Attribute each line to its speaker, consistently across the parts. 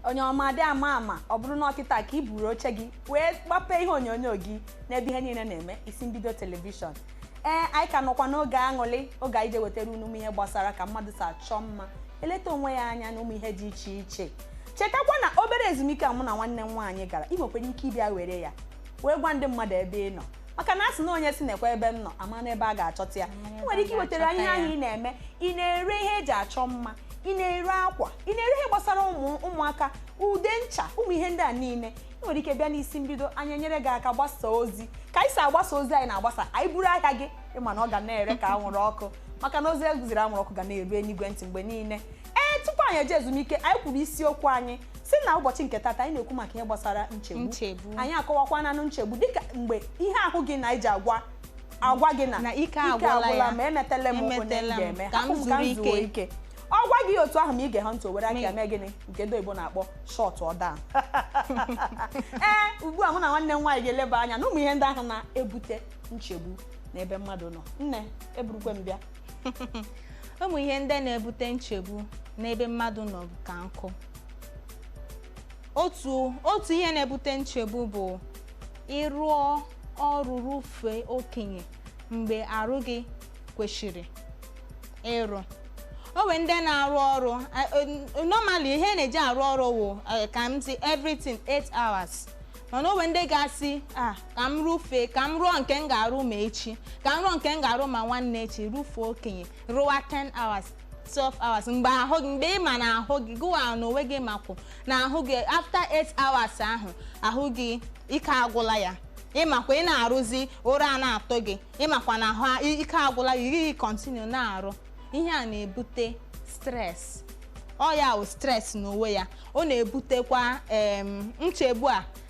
Speaker 1: onye ọma dị ama ama ọ bụrụ na ọ kịta ka i buru oche gị wee gbapee ihe onyonyo gị n'ebe ihe niile na-eme isi mbido telivishọn ee anyị ka nọkwa n'oge aṅụrị oge anyị ji ewetara unu ụmụ ihe gbasara ka mmadụ si achọ mma eleta onwe ya anya na ụmụ ihe dị iche iche chetakwa na obere ezumike a mụ na nwanne m nwaanyị gara ị nwekwara ike ịbịa were ya wee gwa ndị mmadụ ebe ị nọ maka na a sị na onye sị nekwa ebe m nọ amana ebe a ga-achọta ya ị nwere ike iwetara anyị ihe ahụ ị na-eme ị na-ere ihe e ji achọ mma ị na-ere akwa ị na-ere ihe gbasara ụmụ ụmụaka ude ncha ụmụ ihe ndị a niile ị nwere ike bịa n'isi mbido anyị enyere gị aka gbasa ozi ka anyị si agbasa ozi anyị na-agbasa anyị buru ahịa gị ị ma na ọ ga na-ere ka anwụrụ ọkụ maka na ozi e ziri anwụrụ ọkụ ga na-eru enigwe ntị mgbe niile ee tupu anyị eje ezumike anyị kwuru isiokwu anyị sị na ụbọchị nke tata anyị na-ekwu maka ihe gbasara nchegbu Nchegbu. anyị akọwakwananụ nchegbu dịka mgbe ihe ahụ gị na-eji agwa agwa gị na Na ike agwụla ya. ma emetela m nke m Emetela m, ga-eme ka m hapụ m ka zuru m zuo ike. ike ọ gwa gị otu ahụ ma i geghị ntị o were aka ya mee gịnị nke ndị oyibo na-akpọ shut down ee ugbu a mụ na nwanne m nwaanyị ga-eleba anya n'ụmụ ihe ndị ahụ na-ebute nchegbu n'ebe mmadụ nọ nne eburukwe m bịa
Speaker 2: ụmụ ihe ndị na-ebute nchegbu n'ebe mmadụ nọ ka nkụ otu otu ihe na-ebute nchegbu bụ ị rụọ ọrụ rụfee okenye mgbe arụ gị kwesịrị ịrụ o nwe ndị na-arụ ọrụ normally ihe na-eji arụ ọrụ wụ ka m sị everything 8 hours mana o nwe ndị ga-asị ah ka m rụfee ka m rụọ nke m ga-arụ ma echi ka m rụọ nke m ga-arụ ma nwanne echi rụfee okenye rụwa 10 hours 12 hours mgbe ahụ gị mgbe ị ma na ahụ gị gịwa n'onwe gị makwụ na ahụ gị after 8 hours ahụ ahụ gị ike agwụla ya ị makwa ị na-arụzi ụra a na-atụ gị ị makwa na ahụ ike agwụla ya gị continue na-arụ ihe a na-ebute stress ọ ya wụ stress n'onwe ya ọ na-ebutekwa em, nchegbu a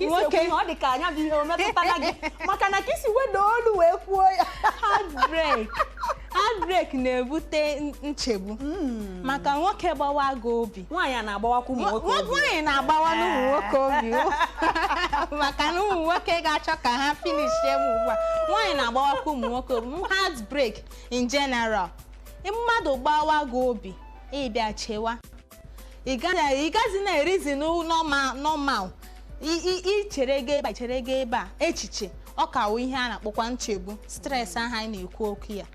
Speaker 1: nwoke ọ dị ka nya bụ ihe o metụtara gị maka na ka i si weda olu wee kwuo ya heartbreak
Speaker 2: heartbreak na-ebute nchegbu hmm. maka nwoke gbawa gị obi nwaanyị na-agbawakwa
Speaker 1: ụmụ nwoke obi nwaanyị na-agbawanụ
Speaker 2: ụmụ nwoke obi maka na ụmụ nwoke ga-achọ ka ha finishie m ugbu a nwaanyị na-agbawakwa ụmụ nwoke obi heartbreak in general mmadụ gbawa gị obi ị bịa chewa ị gaghị ị gaghị na-erizi n'u- normal normal I- i- i chere gaa ebe a chere gaa ebe a echiche ọ ka wụ ihe a na-akpọkwa nchegbu stress ahụ anyị na-ekwu okwu ya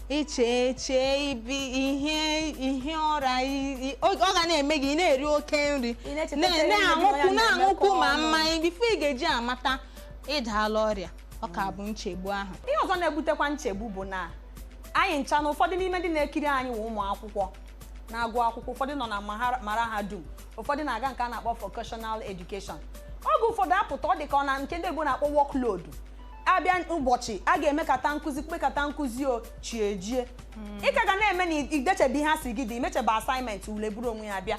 Speaker 2: i chee chee ibi ihe ihe ọra i- i- ọ ọ ga na-eme gị ị na-eri oke nri Ị na-echeta na- ihe ndị na-aṅụkwu ọya na-emekọ na-aṅụkwu ma ọnụ. mmanya before ị ga-eji amata ị daala ọrịa ọ ka bụ nchegbu ahụ ihe ọzọ na-ebutekwa
Speaker 1: nchegbu bụ na anyị ncha na ụfọdụ n'ime ndị na-ekiri anyị wụ ụmụ akwụkwọ na-agụ akwụkwọ ụfọdụ nọ na mahara- mahadum ụfọdụ na-aga nke a na-akpọ vocational education oge ụfọdụ apụta ọ dị ka ọ na nke ndị oyibo na-akpọ workload a bịa ụbọchị a ga-emekata nkụzi kpekata nkụzi chi ejie ị ka ga na-eme na idechebe ihe a sị gị dee imechebe assignment ule buru onwe ya bịa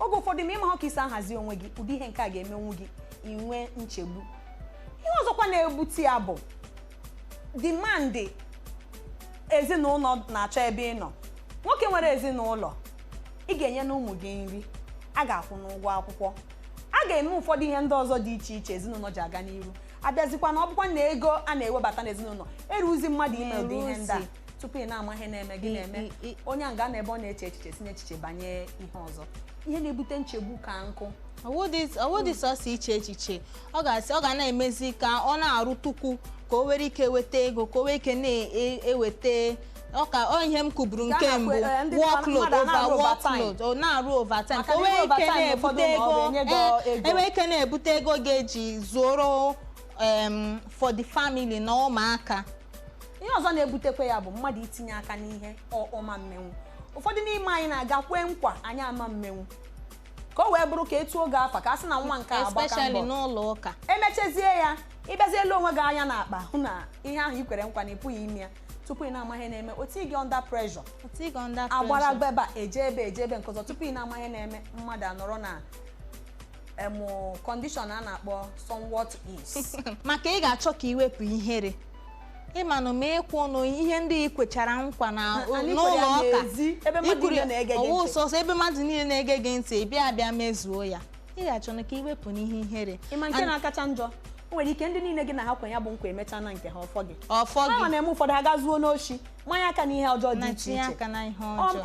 Speaker 1: oge ụfọdụ ma ị maha ka i si ahazi onwe gị ụdị ihe nke a ga-emenwu gị inwe nchegbu ihe ọzọkwa na-ebute ya bụ demand ezinụlọ na-achọ ebe ị nọ nwoke nwere ezinụlọ ị ga-enyenụ ụmụ gị nri a ga-akwụnụ ụgwọ akwụkwọ a ga-eme ụfọdụ ihe ndị ọzọ dị iche iche ezinụlọ ji aga n'iru a bịazikwa na ọ bụkwa na ego a na-ewebata n'ezinụlọ eruzi mmadụ ime ụdị ihe ndị a tupu ị na-ama ihe na-eme gị na-eme onye a ga-anọ ebe ọ na-eche echiche si n'echiche banye ihe ọzọ ihe na-ebute nchegbu ka nkụ ọ
Speaker 2: wụdị sọsọ iche echiche ọ ga na-emezi ka ọ na-arụtụkwu ka o nwere ike weta ego ka o nwee ike na-eweta ọkwa ọ ihe m kwuburu nke mbụ workload ọ na-arụ overtime ka o nwee ike na-ebute ego ga-eji zụrụ em, for the family na ụmụaka ihe ọzọ
Speaker 1: na-ebutekwa ya bụ mmadụ itinye aka n'ihe ọ ma mmenwu ụfọdụ n'ime anyị na-aga kwee nkwa anyị ama mmenwu ka o wee bụrụ ka e too gị afa ka a sị na nwa nke a agbaka mbọ especially n'ụlọ ụka
Speaker 2: e mechazie ya
Speaker 1: ị bịazie lee onwe gị anya n'akpa hụ na ihe ahụ i kwere nkwa na ị pụghị ime ya tupu ị na-ama ihe na-eme o tii gị under pressure agbara gbeba eje ebe eje ebe nke ọzọ tupu ị na-ama ihe na-eme mmadụ anọrọ na
Speaker 2: em
Speaker 1: condition
Speaker 2: a na-akpọ somewhat
Speaker 1: is
Speaker 2: maka
Speaker 1: ị ga-achọ
Speaker 2: ka i
Speaker 1: wepụ
Speaker 2: ihere ị manụ ma ị kwụọnụ ihe ndị i kwechara nkwa na n'ụlọ ụka
Speaker 1: i kwuru ọ wụ sọsọ ebe mmadụ niile
Speaker 2: na-ege gị ntị bịa bịa mezuo ya ị ga-achọnụ ka i wepụ n'ihe ihere ị ma nke na-akacha
Speaker 1: njọ o nwere ike ndị niile gị na ha kwe ya bụ nkwa emechaana nke ha ọ fọ gị ọ fọ ha gị na-eme ụfọdụ agaa
Speaker 2: zuonụ
Speaker 1: oshi manye aka n'ihe ọjọọ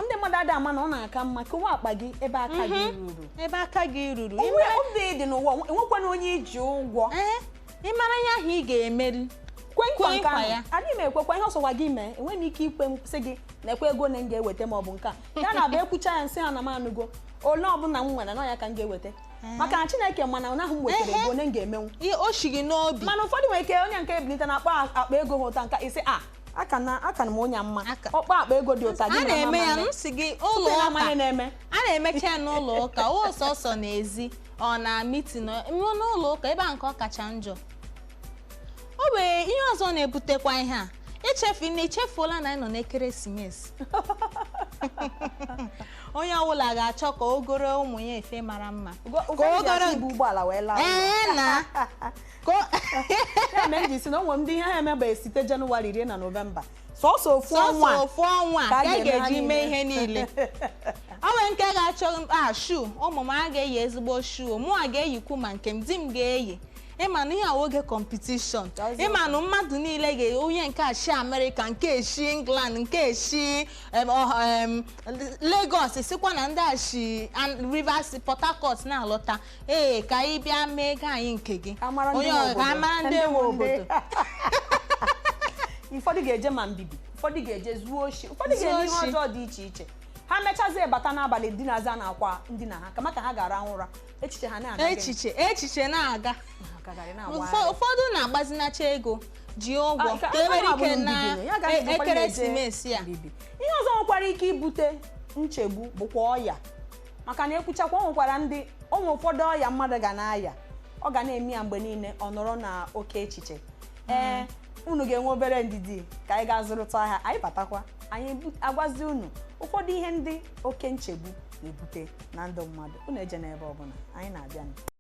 Speaker 2: ndị mmadụ ada ama na ọ
Speaker 1: na-aka mma kowa akpa gị ebe aka gị ruru ebe aka gị
Speaker 2: ruru obi dị
Speaker 1: n'ụwa enwekwana onye i ji ụgwọ Ee, ị mara
Speaker 2: ihe ahụ ị ga-emeri kwe nkwa nke
Speaker 1: ahụ adịghị m ekwekwa
Speaker 2: ihe ọ
Speaker 1: sọkwa gị mee enweghị m ike ikwesi gị nkwa ego one m ga-eweta ma ọ bụ nke a ya na-abụ e kwuchaa ya m sị ha na m anụgo ole ọbụla m nwere na ya ka m ga-eweta maka na chineke ma na ihe ahụ m wetara ego one m ga-emenwu ihe o shi gị n'obi
Speaker 2: mana ụfọdụ nwere ike onye nke
Speaker 1: a ebilite na akpa akpa ego ha otu a nka isi a aka na aka na m onye mma ọkpa akpa ego dị otu a gị na na-eme ya mama m si
Speaker 2: gị ụlọ tupu na amanye ụka na-eme a
Speaker 1: na-emecha
Speaker 2: ya n'ụlọ ụka o sọsọ n'ezi ọ na mitin n'ụlọ ụka ebe a nke ọ kacha njọ o nwere ihe ọzọ na-ebutekwa ihe a i chefu na i chefuola na anyị nọ n'ekeresimesi onye ọbụla ga-achọ ka o goro ụmụ ya efe mara mma Ụgwọ- ụfọdụ ji ogoro- asị
Speaker 1: ibu ụgbọala wee laa ụlọ. ee na
Speaker 2: ka
Speaker 1: o- Ya mere m ji si na o nwe ndị ihe ha emebeghị site Jenụwarị rue na Nọvemba sọsọ ofu sọsọ ọnwa ofu ọnwa ka a ka a ga-eme ha
Speaker 2: ga-eji mee ihe niile. niile o nwere nke ga-achọ a shu ụmụ m a ga-eyi ezigbo shu mụwa ga-eyikwu ma nke m di m ga-eyi ị ma na ihe a wụ oge competition That's ị ma na mmadụ niile ga onye nke shi America nke shi England nke shi em, ọ- em, Lagos sikwa na ndị shi An- Rivers Port Harcourt na-alọta ee ka anyị bịa mee ego anyị nke gị Ka mara ndị onye nwe ọ- ka obodo. mara ndị nwe
Speaker 1: obodo ụfọdụ ga-eje ma mbibi ụfọdụ ga-eje zuo oshi ụfọdụ Zuo ga-eme ihe oshi. ọjọọ dị iche iche ha mechazie bata n'abalị dinaza n'akwa ndina ha kama ka ha ga-arahụ ụra echiche ha na-aga gịnị? echiche echiche
Speaker 2: na-aga Na-agagharị, na-awagharị. Ụfọ- ụfọdụ na-agbazinacha ego ji ụgwọ Ah, ka nke e nwere ọbụla ike bụ na mbibi, ya ga-adị e- bụkwa ihe eje ekeresimesi a mbibi. ihe ọzọ nwekwara
Speaker 1: ike ibute nchegbu bụkwa ọya maka na e kwuchakwa o nwekwara ndị o nwe ụfọdụ ọya mmadụ ga na-aya ọ ga na-eme ya mgbe niile ọ nọrọ n'oke echiche ee unu ga-enwe obere ndidi ka anyị gaa zụrụtụ ahịa anyị batakwa anyị bu- agwazi unu ụfọdụ ihe ndị oke nchegbu na-ebute na ndụ mmadụ unu ejena ebe ọbụla anyị na-abịanụ